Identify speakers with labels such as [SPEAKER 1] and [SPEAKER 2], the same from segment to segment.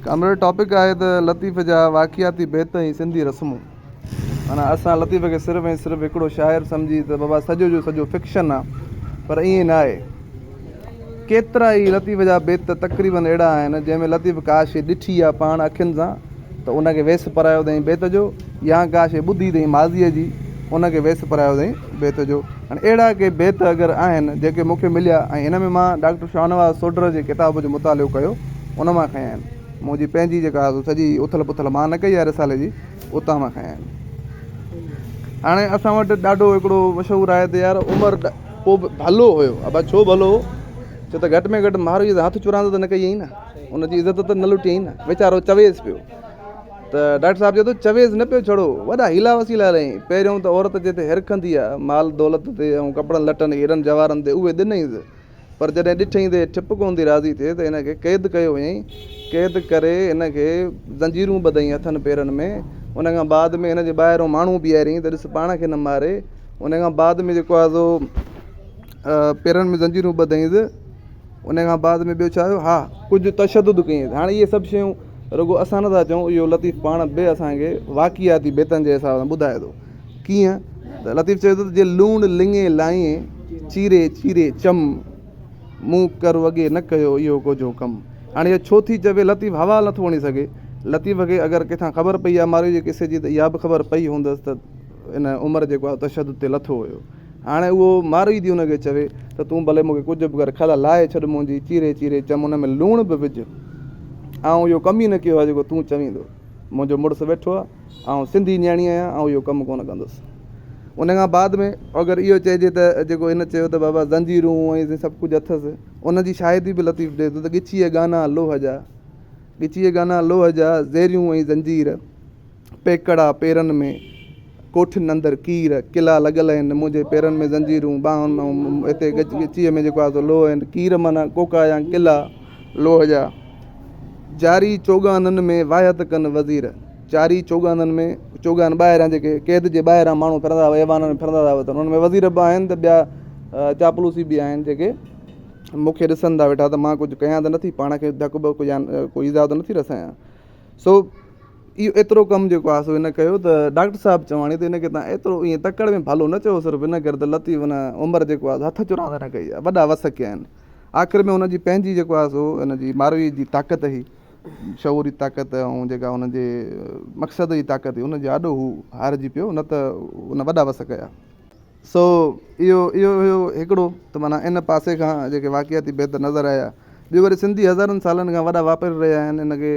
[SPEAKER 1] Comrade topic آهي ته لطيف جا واقعاتي بيت ۽ سنڌي رسمون. معنيٰ اسان لطيف کي صرف ۽ صرف هڪڙو شاعر سمجهي ته بابا سڄو جو سڄو فڪشن آ پر ائين ناهي. ڪيترا ئي لطيف جا بيت ته تقريباً اهڙا آهن جنهن ۾ لطيف ڪا شيء ڏٺي آ پاڻ اکين سان ته ان کي ويس پرايو اٿائين بيت جو يا ڪا شيء ٻڌي اٿائين ماضيء جي ان کي ويس پرايو اٿائين بيت جو. هاڻي اهڙا ڪي بيت اگر آهن جيڪي مون کي مليا ۽ ان ۾ مان ڊاڪٽر شاهنواز سوڍر جي ڪتاب جو مطالعو ڪيو ان مان کنيا آهن. منهنجي پنهنجي جيڪا سڄي اٿل پٿل مان نه ڪئي آهي رسالي جي اتان مان کنيا آهن. هاڻي اسان وٽ ڏاڍو هڪڙو مشهور آهي ته يار عمر پوء به ڀلو هيو. ابا ڇو ڀلو هو؟ ڇو ته گهٽ ۾ گهٽ مهارويء سان هٿ چراند ته نه ڪئي هئي نه. ان جي عزت ته نه لٽي هئي نه. ويچارو چويس پيو. ته ڊاڪٽر صاحب چئي ٿو چويز نه پيو ڇڙو وڏا حيلا وسيلا هلائين پهريون ته عورت جتي هرک هندي آ مال دولت تي ۽ ڪپڙن لٽن هيرن جواهرن تي اهي ڏنئينز پر جڏهن ڏٺئين ته هي ٺپ ڪونٿي راضي ٿئي ته هن کي قيد ڪيو وڃئين قيد ڪري هن کي زنجيرون ٻڌئين هٿن پيرن ۾ ان کان بعد ۾ هن جي ٻاهريون ماڻهو بيهاريائين ته ڏس پاڻ کي نه ماري ان کان بعد ۾ جيڪو آ سو پيرن ۾ زنجيرون ٻڌئينز ان کان بعد ۾ ٻيو ڇا هيو ها ڪجهه تشدد ڪيائين هاڻي اهي سڀ شيون رڳو اسان نٿا چئون اهو لطيف پاڻ به اسانکي واقعاتي بيتن جي حساب سان ٻڌائي ٿو ڪيئن ته لطيف چوي ٿو جي لوڻ لڱي لائين چيري چيري چم مون ڪر وڳي نه ڪيو اهو ڪجهو ڪم هاڻي اهو ڇو ٿي چوي لطيف حوال نٿو وڻي سگهي لطيف کي اگر ڪٿان خبر پئي آهي مارئي جي قصي جي ته اها به خبر پئي هوندس ته ان عمر جيڪو آهي تشدد تي لٿو هيو هاڻي اهو ماروئي ٿي ان کي چوي ته تون ڀلي مون کي ڪجهه به ڪر، کل لاهي ڇڏ منهنجي، چيري چيري چم، ان ۾ لوڻ به وجهه. آئون اهو ڪم ئي نه ڪيو آهي جيڪو تون چوين ٿو. منهنجو مڙس ويٺو آهي، آئون سنڌي نياڻي آهيان، آئون اهو ڪم ڪونه ڪندس. ان کان بعد ۾ اگر اهو چئجي ته جيڪو هن چيو ته بابا زنجيرون ۽ سائين سڀ ڪجهه اٿس، ان جي شاهدي به لطيف ڏئي ٿو ته ڳچيء گانا لوهه جا، ڳچيء گانا لوهه جا، زيريون ۽ زنجير. پيڪڙا پيرن ۾، ڪوٺين اندر ڪير، ڪلا لڳل آهن، منهنجي پيرن ۾ زنجيرون، ٻانهن ۾ هتي ڳچيء ۾ جيڪو آهي سو لوهه آهن، ڪير معنيٰ ڪوڪا يا ڪلا لوهه جا، چارئي چوڳانن ۾ واهيت ڪن وزير، چارئي چوڳانن ۾، چوڳان ٻاهران جيڪي قيد جي ٻاهران ماڻهو ڦرندا هئا، ايوانن ۾ ڦرندا هئا ته انهن ۾ وزير به آهن ته ٻيا چاپلوسي به آهن جيڪي مون کي ڏسن ٿا ويٺا ته مان ڪجهه ڪيان ته نٿي، پاڻ کي ڌڪ ٻڪ يا ڪو ايذاء ته نٿي رسايان. سو اهو ايترو ڪم جيڪو آهي سو هن ڪيو ته ڊاڪٽر صاحب چواڻي ته هن کي تان ايترو ايئن تڪڙ ۾ ڀلو نه چئو صرف هن ڪري ته لطيف هن عمر جيڪو آهي هٿ چرا ٿي نه ڪئي آهي وڏا وس ڪيا آهن آخر ۾ هن جي پنهنجي جيڪو آهي سو هن جي ماروي جي طاقت هئي شعور جي طاقت ۽ جيڪا هن جي مقصد جي طاقت هئي هن جي آڏو هو هارجي پيو نه ته هن وڏا وس ڪيا سو اهو اهو هيو هڪڙو ته معنيٰ ان پاسي کان جيڪي واقعاتي بيت نظر آيا. ٻيو وري سنڌي هزارن سالن کان وڏا واپاري رهيا آهن ان کي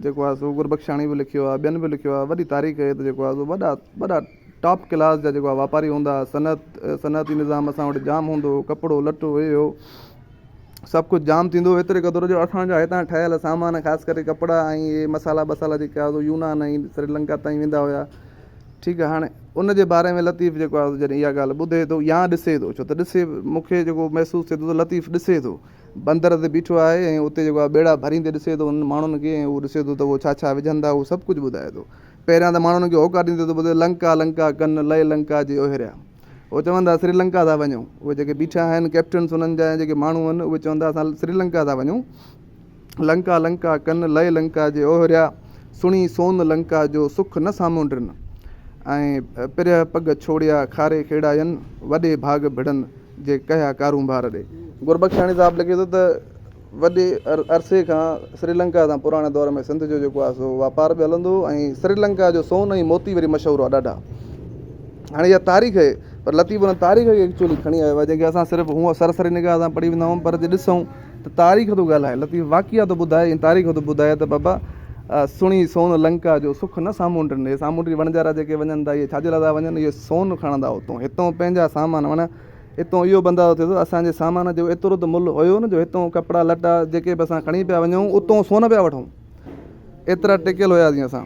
[SPEAKER 1] جيڪو آهي سو گربخشاڻي به لکيو آهي ٻين به لکيو آهي وڏي تاريخ هي ته جيڪو آهي سو وڏا وڏا ٽاپ ڪلاس جا جيڪو آهي واپاري هوندا هئا صنعت صنعتي نظام اسان وٽ جام هوندو هو ڪپڙو لٽو هي هو سڀ ڪجهه جام ٿيندو هو ايتري قدر جو اسانجا هتان ٺهيل سامان خاص ڪري ڪپڙا ۽ هي مصالحا ٻصالحا جيڪي آهي سو يونان ۽ سريلنڪا تائين ويندا هيا ٺيڪ آهي هاڻي ان جي باري ۾ لطيف جيڪو آهي جڏهن اها ڳالهه ٻڌي ٿو يا ڏسي ٿو ڇو ته ڏسي مون کي جيڪو محسوس ٿئي ٿو ته لطيف ڏسي ٿو بندر تي بيٺو آهي ۽ اتي جيڪو آهي ٻيڙا ڀريندي ڏسي ٿو انهن ماڻهن کي ۽ اهو ڏسي ٿو ته اهو ڇا ڇا وجهن ٿا اهو سڀ ڪجهه ٻڌائي ٿو پهريان ته ماڻهن کي هوڪا ڏيندي ٿو ٻڌي لنڪا لنڪا ڪن لئي لنڪا جي اوهيريا اهو چون ٿا سريلنڪا ٿا وڃون اهي جيڪي بيٺا آهن ڪئپٽنس انهن جا ۽ جيڪي ماڻهو آهن اهي چون ٿا اسان سريلنڪا ٿا وڃون لنڪا لنڪا ڪن لئي لنڪا جي اوهريا، سڻي سون لنڪا جو سک نه سامونڊرن. ۽ پرهه پڳ ڇوڙيا کاري کيڙا ين، وڏي ڀاڳ ڀڙن جي ڪهيا ڪارونڀار ڏي. گربخشاڻي صاحب لکي ٿو ته وڏي عرصي کان سري لنڪا سان پراڻي دور ۾ سنڌ جو جيڪو آهي سو واپار به هلندو هو ۽ سري لنڪا جو سون ۽ موتي وري مشهور هئا ڏاڍا. هاڻي اها تاريخ اهي پر لطيف ان تاريخ کي ايڪچوئلي کڻي آيو آهي جنهن کي اسان صرف هونء سرسري نگاهه سان پڙهي ويندا آهيون پر جي ڏسون ته تاريخ ٿو ڳالهائي، لطيف واقعا ٿو ٻڌائي ۽ تاريخ ٿو ٻڌائي ته بابا سڻي سون لنڪا جو سک نه سامونڊ ڏني. سامونڊي وڻجارا جيڪي وڃن ٿا اهي ڇاجي لاء ٿا وڃن؟ اهي سون کڻندا اتئون، هتئون پنهنجا سامان معنيٰ هتئون اهو بنداو ٿئي ٿو اسان جي سامان جو ايترو ته ملهه هيو نه جو هتئون ڪپڙا لٽا جيڪي به اسان کڻي پيا وڃون اتئون سون پيا وٺون. ايترا ٽڪيل هياسين اسان.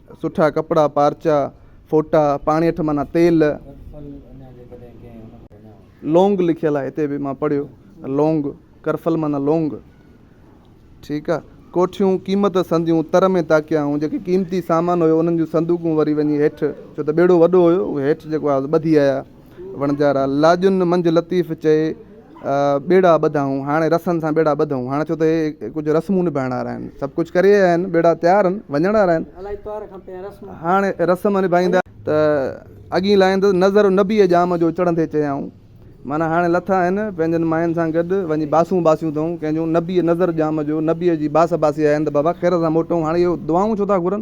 [SPEAKER 1] سٺا ڪپڙا، پارچا، ڦوٽا، پاڻي اٺ مانا تيل، لونگ لکيل آهي هتي به مان پڙهيو لونگ، ڪرفل مانا لونگ، ٺيڪ آ، ڪوٺيون، قيمت سنديون، تر ۾ تاڪيائون، جيڪي قيمتي سامان هيو انهن جون سندوقون وري وڃي هيٺ، ڇو ته ٻيڙو وڏو هيو، اهي هيٺ جيڪو آهي ٻڌي آيا. وڻجارا لاڄن منجهه لطيف چئي، ٻيڙا ٻڌائون، هاڻي رسن سان ٻيڙا ٻڌئون، هاڻي ڇو ته هي ڪجهه رسمون نڀائڻ وارا آهن، سڀ ڪجهه ڪري آيا آهن، ٻيڙا تيار آهن، وڃڻ وارا آهن، هاڻي رسم نڀائيندا. ته اڳيئي لاهيندس، نظر نبيء ڄام جو چڙهندي چيائون، معنيٰ هاڻي لٿا آهن، پنهنجن ماين سان گڏ وڃي باسون باسيون اٿئون، ڪنهن جون نبيء نظر ڄام جو نبيء جي باس باسي آيا آهن ته بابا خير سان موٽئون، هاڻي اهي دعائون ڇو ٿا گهرن؟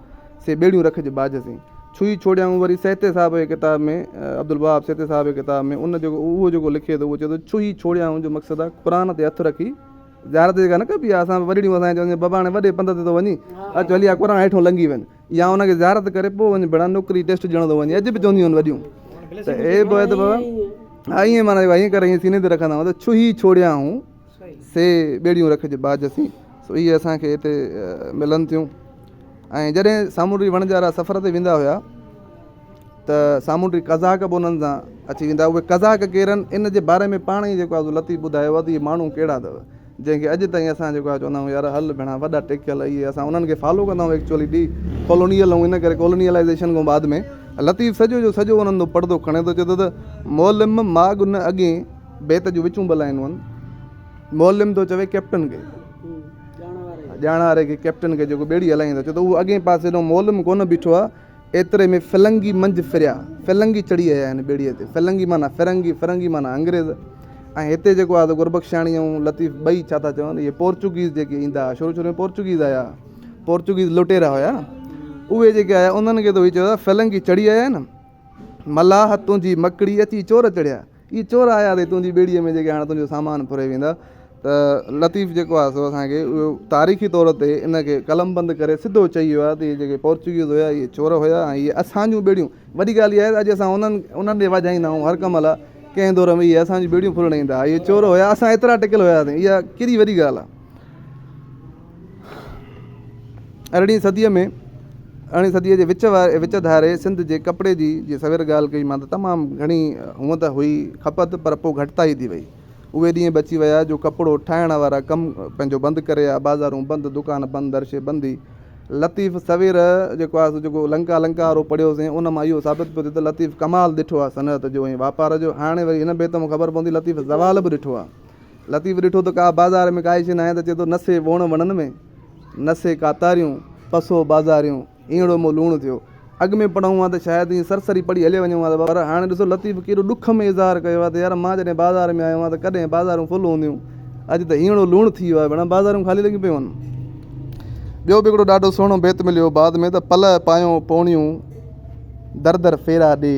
[SPEAKER 1] سي ٻيڙيون رک جي ٻاجهه سين. ڇهي ڇوڙيائون وري سهتي صاحب جي ڪتاب ۾ عبدالوهاب سهتي صاحب جي ڪتاب ۾ ان جيڪو اهو جيڪو لکي ٿو اهو چئي ٿو ڇهي ڇوڙيائون جو مقصد آهي قرآن تي هٿ رکي زيارت جيڪا نه ڪبي آهي اسان وڏڙيون اسان کي چون ٿيون بابا هاڻي وڏي پنڌ تي ٿو وڃين اچ هلي آ قرآن هيٺون لنگهي وڃ يا ان کي زيارت ڪري پوء وڃ ڀيڻا نوڪري ٽيسٽ ڏيڻو ٿو وڃي اڄ به چونديون آهن وڏيون ته اي بابا ها ائين معنيٰ ائين ڪري ائين سيني تي رکندا آهيون ته ڇهي ڇوڙيائون سي ٻيڙيون رک جي ٻاجهه سين. سو اهي اسان کي هتي ملن ٿيون ۽ جڏهن سامونڊي وڻجارا سفر تي ويندا هيا ته سامونڊي قزاق به انهن سان اچي ويندا هئا اهي قزاق ڪير آهن ان جي باري ۾ پاڻ ئي جيڪو آهي لطيف ٻڌايو آهي ته اهي ماڻهو ڪهڙا اٿو جنهن کي اڄ تائين اسان جيڪو آهي چوندا آهيون يار هل ڀيڻا وڏا ٽيڪيل اهي اسان انهن کي فالو ڪندا آهيون ايڪچوئلي ڊي ڪالونيل آهيون ان ڪري ڪالونيلائزيشن کان بعد ۾ لطيف سڄو جو سڄو انهن جو پڙدو کڻي ٿو چي ٿو ته مولم ماڳ نه اڳين بيت جون وچون ٻه لائنون آهن. معلم ٿو چوي ڪئپٽن کي، ڄاڻواري کي، ڪئپٽن کي جيڪو ٻيڙي هلائين ٿو، چوي ٿو اهو اڳئين پاسي ڏانهن معلم ڪونه بيٺو آهي. ايتري ۾ فلنگي منجهه ڦريا، فلنگي چڙهي آيا هن ٻيڙيء تي. فلنگي معنيٰ فرنگي، فرنگي معنيٰ انگريز. ۽ هتي جيڪو آهي سو گربخشاڻي ۽ لطيف ٻئي ڇا ٿا چون، اهي پورچوگيز جيڪي ايندا هئا، شروع شروع ۾ پورچوگيز آيا، پورچوگيز لٽيرا هيا، اهي جيڪي آيا انهن کي ته اهي چوي ٿا فلنگي چڙهي آيا هن، ملاح تنهنجي مڪڙي اچي چور چڙهيا. اهي چور آيا اٿئي تنهنجي ٻيڙيء ۾ جيڪي هاڻي تنهنجو سامان ڦري ويندا ته لطيف جيڪو آهي سو اسان کي اهو تاريخي طور تي ان کي قلم بند ڪري سڌو چئي ويو آهي ته اهي جيڪي پورچوگيز هيا اهي چور هيا ۽ اهي اسان جون ٻيڙيون وڏي ڳالهه اها آهي ته اڄ اسان انهن انهن ڏي واجهائيندا آهيون هر ڪم لاء ڪنهن دور ۾ اهي اسان جون ٻيڙيون ڦرڻ ايندا هئا اهي چور هيا اسان ايترا ٽڪيل هياسين اها ڪيڏي وڏي ڳالهه آهي ارڙهين صديء ۾ ارڙهين صديء جي وچ واري وچ ڌاري سنڌ جي ڪپڙي جي جي سوير ڳالهه ڪئي مان ته تمام گهڻي هونء ته هئي کپت پر پوء گهٽتائي ٿي وئي. اهي ڏينهن به اچي ويا جو ڪپڙو ٺاهڻ وارا ڪم پنهنجو بند ڪري آيا بازارون بند دڪان بند درشي بندي. لطيف سوير جيڪو آهي سو جيڪو لنڪا لنڪا وارو پڙهيو سين ان مان اهو ثابت پيو ٿئي ته لطيف ڪمال ڏٺو آهي صنعت جو ۽ واپار جو هاڻي وري هن بيت مان خبر پوندي لطيف زوال به ڏٺو آهي. لطيف ڏٺو ته ڪا بازار ۾ ڪائي شي ناهي ته چئي ٿو نسي ووڻ وڻن ۾، نسي ڪاتاريون، پسو بازاريون، اينڙو مون لوڻ ٿيو. اڳ ۾ پڙهون ها ته شايد ائين سرسري پڙهي هلي وڃون ها پر هاڻي ڏسو لطيف ڪيڏو ڏک ۾ اظهار ڪيو آهي ته يار مان جڏهن بازار ۾ آيو هان ته ڪڏهن بازارون فل هونديون اڄ ته اينڙو لوڻ ٿي ويو آهي ڀيڻا بازارون خالي لڳيون پيون هن. ٻيو به هڪڙو ڏاڍو سهڻو بيت مليو بعد ۾ ته پلئه پايون پوڻيون در در ڦيرا ڏي.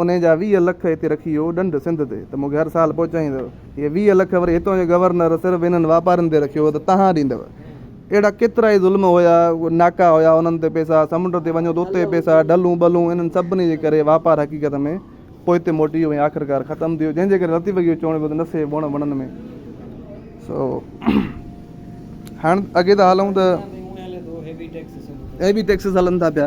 [SPEAKER 1] انهيء جا ويهه لک هتي رکي اهو ڏنڊ سنڌ تي ته مون کي هر سال پهچائيندؤ. اهي ويهه لک وري هتان جو گورنر صرف انهن واپارين تي رکيو هو ته تهان ڏيندؤ. اهڙا ڪيترائي ظلم هيا، ناڪا هيا، انهن تي پئسا، سمنڊ تي وڃو ته اتي پئسا، ڍلون ٻلون، انهن سڀني جي ڪري واپار حقيقت ۾ پوئتي موٽي ويو ۽ آخرڪار ختم ٿي ويو، جنهن جي ڪري لطيف کي اهو چوڻو پيو ته نه سهي وڻ وڻن ۾. سو هاڻ اڳي ٿا هلون ته هيوي ٽيڪسز هلن ٿا پيا.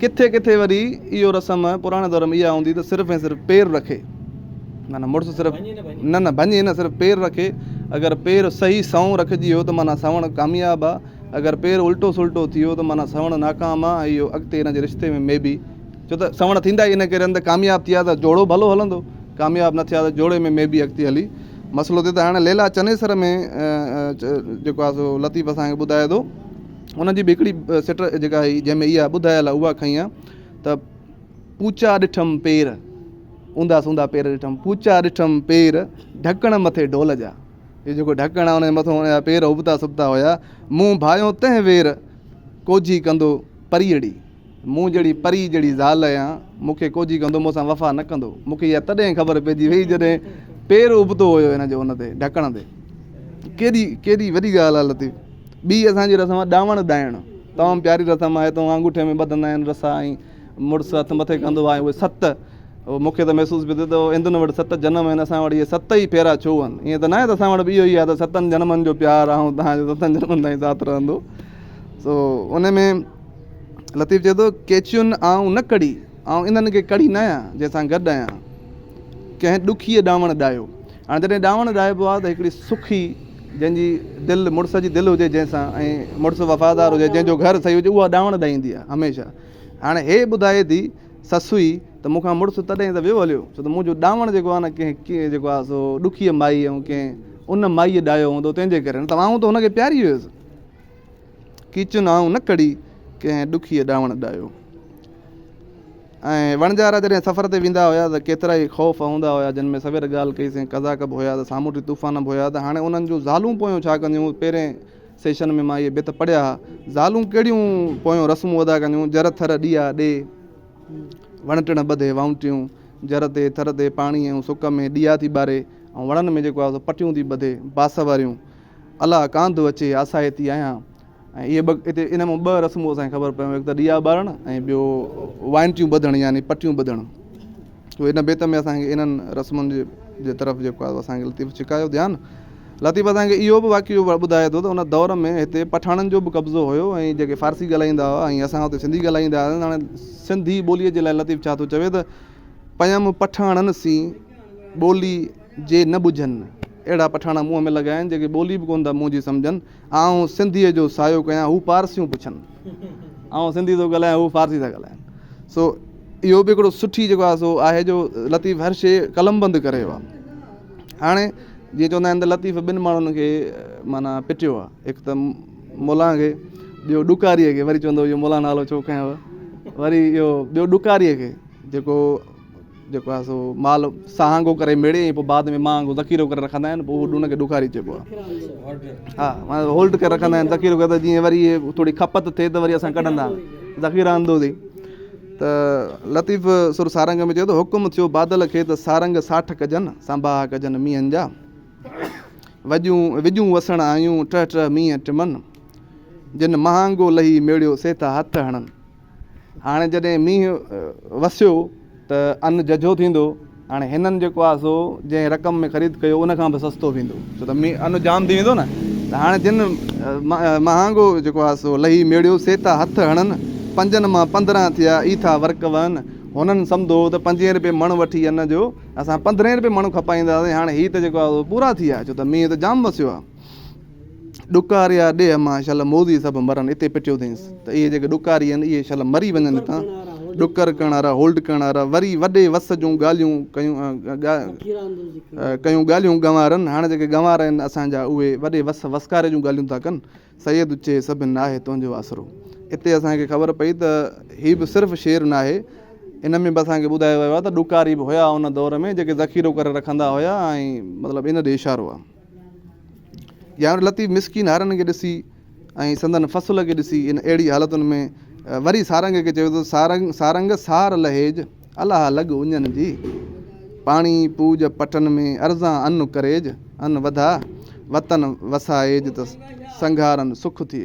[SPEAKER 1] ڪٿي ڪٿي وري اهو رسم پراڻي دور ۾ اها هوندي ته صرف ۽ صرف پير رکي معنيٰ مڙس صرف نه نه ڀڃي نه صرف پير رکي اگر پير صحيح سنئون رکجي ويو ته معنيٰ سنوڻ ڪامياب آ اگر پير الٽو سلٽو ٿي ويو ته معنيٰ سنوڻ ناڪام آ ۽ اهو اڳتي هن جي رشتي ۾ مي بي ڇو ته سنوڻ ٿيندا ئي ان ڪري آهن ته ڪامياب ٿيا ته جوڙو ڀلو هلندو ڪامياب نه ٿيا ته جوڙي ۾ مي بي اڳتي هلي مسئلو ٿئي ته هاڻي ليلا چنيسر ۾ جيڪو آ سو لطيف اسان کي ٻڌائي ٿو انهن جي به هڪڙي سٽ جيڪا هئي جنهن ۾ اها ٻڌايل آهي اها کنئي آهي ته پوچا ڏٺم پير اوندا سوندا پير ڏٺم پوچا ڏٺم پير ڍڪڻ مٿي ڍول جا هي جيڪو ڍڪڻ آهي ان جي مٿو ان جا پير ابتا سبتا هيا مون ڀايو تنهن وير ڪوجي ڪندو پريئڙي مون جهڙي پري جهڙي زال آهيان، مون کي ڪوجهي ڪندو، مون سان وفا نه ڪندو. مون کي اها تڏهن خبر پئجي وئي جڏهن پير ابتو هيو هن جو ان تي، ڍڪڻ تي. ڪيڏي ڪيڏي وڏي ڳالهه آهي لطيف. ٻي اسان جي رسم آهي ڏانوڻ ڏائڻ. تمام پياري رسم آهي تون آنگوٺي ۾ ٻڌندا آهن رسا ۽ مڙس هٿ مٿي ڪندو آهي اهي ست. مون کي ته محسوس پئي ٿيو ته هندن وٽ ست جنم آهن اسان وٽ اهي ست ئي ڦيرا ڇو آهن. ائين ته ناهي ته اسان وٽ به اهو ئي آهي ته ستن جنمن جو پيار آئون توهان جو ستن جنمن تائين ساٿ رهندو. سو ان ۾ لطيف چئي ٿو، ڪيچيون آئون نه ڪڙهي، آئون انهن کي ڪڙهي نه آهيان، جنهن سان گڏ آهيان. ڪنهن ڏکيء ڏانوڻ ڏاهيو. هاڻي جڏهن ڏانوڻ ڏاهبو آهي ته هڪڙي سکي، جنهن جي دل مڙس جي دل هجي جنهن سان ۽ مڙس وفادار هجي، جنهن جو گهر صحيح هجي، اها ڏانوڻ ڏائيندي آهي هميشه. هاڻي هيء ٻڌائي ٿي سسئي ته مون کان مڙس تڏهن ئي ته ويو هليو، ڇو ته منهنجو ڏانوڻ جيڪو آهي نه ڪنهن جيڪو آهي سو ڏکيء مائيء ۽ ڪنهن ان مائيء ڏاهيو هوندو تنهن جي ڪري، نه ته آئون ته هن کي پياري هيس. ڪيچن آئون نه ڪڙي، ڪنهن ڏکيء ڏانوڻ ڏايو. ۽ وڻجارا جڏهن سفر تي ويندا هيا ته ڪيترائي خوف هوندا هيا، جن ۾ سوير ڳالهه ڪئي سين قضاڪ به هيا ته سامونڊي طوفان به هيا ته هاڻي انهن جون زالون پويون ڇا ڪنديون؟ پهرين سيشن ۾ مان اهي بيت پڙهيا ها، زالون ڪهڙيون پويون رسمون ادا ڪنديون، جر ٿر ڏيئا ڏي، وڻ ٽڻ ٻڌي وائونٽيون، جر تي ٿر تي پاڻي ۽ سڪ ۾ ڏيئا ٿي ٻاري، ۽ وڻن ۾ جيڪو آهي سو پٽيون ٿي ٻڌي، باسوريون. الا ڪانڌ اچي آسائتي آهيان ۽ اهي ٻه هتي ان مان ٻه رسمون اسانکي خبر پيون هڪ ته ڏيئا ٻارڻ ۽ ٻيو وائنٽيون ٻڌڻ يعني پٽيون ٻڌڻ تو ان بيت ۾ اسانکي انهن رسمن جي جي طرف جيڪو آهي اسانکي لطيف ڇڪايو ڌيان لطيف اسانکي اهو به واقعو ٻڌائي ٿو ته ان دور ۾ هتي پٺاڻن جو به قبضو هيو ۽ جيڪي فارسي ڳالهائيندا هئا ۽ اسان هتي سنڌي ڳالهائيندا هئاسين هاڻي سنڌي ٻوليء جي لاء لطيف ڇا ٿو چوي ته پيم پٺاڻن سين ٻولي جي نه ٻجهن، اهڙا پٺاڻا منهن ۾ لڳائين، جيڪي ٻولي به ڪونه ٿا منهنجي سمجهن، آئون سنڌيء جو سايو ڪيان، هو پارسيون پڇن، آئون سنڌي ٿو ڳالهايان، هو فارسي ٿا ڳالهائين، سو اهو به هڪڙو سٺي جيڪو آهي سو آهي جو لطيف هر شيء قلمبند ڪري ويو آهي. هاڻي جيئن چوندا آهن ته لطيف ٻن ماڻهن کي معنيٰ پٽيو آهي، هڪ ته ملان کي، ٻيو ڏڪاريء کي، وري چوندو اهو ملان نالو ڇو کنيو، وري اهو ٻيو ڏڪاريء کي، جيڪو جيڪو آهي سو مال سهانگو ڪري ميڙي ۽ پوء بعد ۾ مهانگو ذخيرو ڪري رکندا آهن پوء ان کي ڏکاري چئبو آهي ها معنيٰ هولڊ ڪري رکندا آهن ذخيرو ڪري جيئن وري ٿوري کپت ٿئي ته وري اسان ڪڍندا آهيون ذخيره اندوزي ته لطيف سر سارنگ ۾ چيو ته حڪم ٿيو بادل کي ته سارنگ ساٺ ڪجن سانباها ڪجن مينهن جا وڄون وجون وسڻ آيون ٽه ٽه مينهن ٽمن جن مهانگو لهي ميڙيو سي ٿا هٿ هڻن هاڻي جڏهن مينهن وسيو ته ان ججهو ٿيندو. هاڻي هنن جيڪو آهي سو جنهن رقم ۾ خريد ڪيو ان کان به سستو ويندو. ڇو ته مينهن ان جام ٿي ويندو نه. ته هاڻي جن مهانگو جيڪو آهي سو لهي ميڙيو سي ٿا هٿ هڻن. پنجن مان پندرهن ٿيا اي ٿا ورڪ وهن. هنن سمڌو ته پنجين رپئي مڻ وٺي ان جو اسان پندرهين رپئي مڻ کپائينداسين. هاڻي هي ته جيڪو آهي سو پورا ٿي ويا ڇو ته مينهن ته جام وسيو آهي. ڏڪار يا ڏيهه مان شل موذي سڀ مرن اتي پٽيو اٿينس ته اهي جيڪي ڏڪاري آهن اهي شل مري وڃن هتان ڏڪر ڪرڻ وارا هولڊ ڪرڻ وارا وري وڏي وس جون ڳالهيون ڪيون ڪيون ڳالهيون گنوارن هاڻ جيڪي گنوار آهن اسان جا اهي وڏي وس وسڪاري جون ڳالهيون ٿا ڪن سيد چي سڀ ناهي تنهنجو آسرو اتي اسان کي خبر پئي ته هي به صرف شعر ناهي ان ۾ به اسان کي ٻڌايو ويو آهي ته ڏڪاري به هيا ان دور ۾ جيڪي ذخيرو ڪري رکندا هيا ۽ مطلب ان ڏي اشارو آهي ڄامڙ لطيف مسڪين هارن کي ڏسي ۽ سندن فصل کي ڏسي ان اهڙي حالتن ۾ وري سارنگ کي چيو ته سارنگ سارنگ سار لهيج الاهه لڳ اڃن جي پاڻي پوج پٽن ۾ ارزان ان ڪريج ان وڌا وطن وسائيج ته سنگهارن سک ٿئي.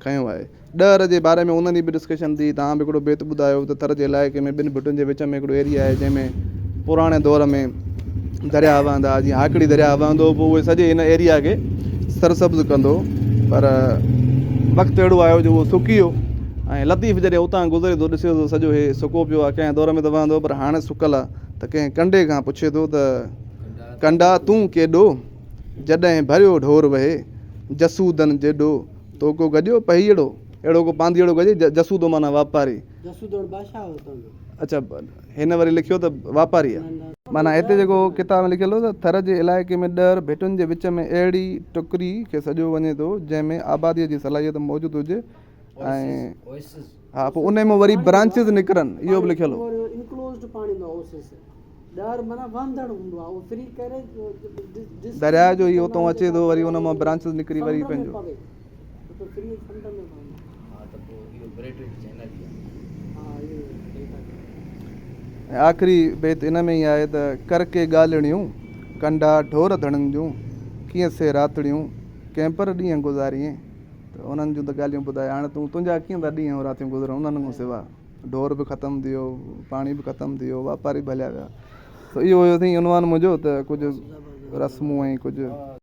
[SPEAKER 1] کنيو آهي. ڏهه ر جي باري ۾ انهن جي به ڊسڪشن ٿي. توهان به هڪڙو بيت ٻڌايو ته ٿر جي علائقي ۾ ٻن ڀٽن جي وچ ۾ هڪڙو ايريا آهي جنهن ۾ پراڻي دور ۾ درياهه وهندا هئا جيئن هاڪڙي درياهه وهندو هو پوء اهي سڄي ان ايريا کي سرسبز ڪندو پر وقت اهڙو آيو جو اهو سڪي ويو ۽ لطيف جڏهن اتان گذري ٿو ڏسي ٿو سڄو هي سڪو پيو آهي ڪنهن دور ۾ ته وهندو هو پر هاڻي سڪل آهي ته ڪنهن ڪنڊي کان پڇي ٿو ته ڪنڊا تون ڪيڏو جڏهن ڀريو ڍور وهي جسودن جيڏو. تو ڪو گڏيو پهيئڙو، اهڙو ڪو پانڌيئڙو گڏي، جسودو معنيٰ واپاري. جسودوڻ بادشاهه هو اتان جو. اڇا هن وري لکيو ته واپاري آ. معنيٰ هتي جيڪو ڪتاب ۾ لکيل هو ته ٿر جي علائقي ۾ ڏهر ڀٽن جي وچ ۾ اهڙي ٽڪري کي سڏيو وڃي ٿو جنهن ۾ آباديء جي صلاحيت موجود هجي ۽ ها پوء انهي مون وري برانچز نڪرن اهو به لکيل هو. Enclosed پاڻي هوندو آهي Oasis. درياء جو هي اتون اچي ٿو وري ان مان برانچز نڪري وري پنهنجو ۽ آخري بيت ان ۾ ئي آهي ته ڪر ڪي ڳالهڙيون ڪنڊا ڍور ڌڻن جون ڪيئن سي راتڙيون ڪنهن پر ڏينهن گذاريئين ته انهن جون ته ڳالهيون ٻڌايو هاڻي تون تنهنجا ڪيئن ٿا ڏينهن راتيون گذرن انهن کان سواء ڍور به ختم ٿي ويو، پاڻي به ختم ٿي ويو، واپاري به هليا ويا. اهو هيو سائين عنوان منهنجو ته ڪجهه رسمون ۽ ڪجهه.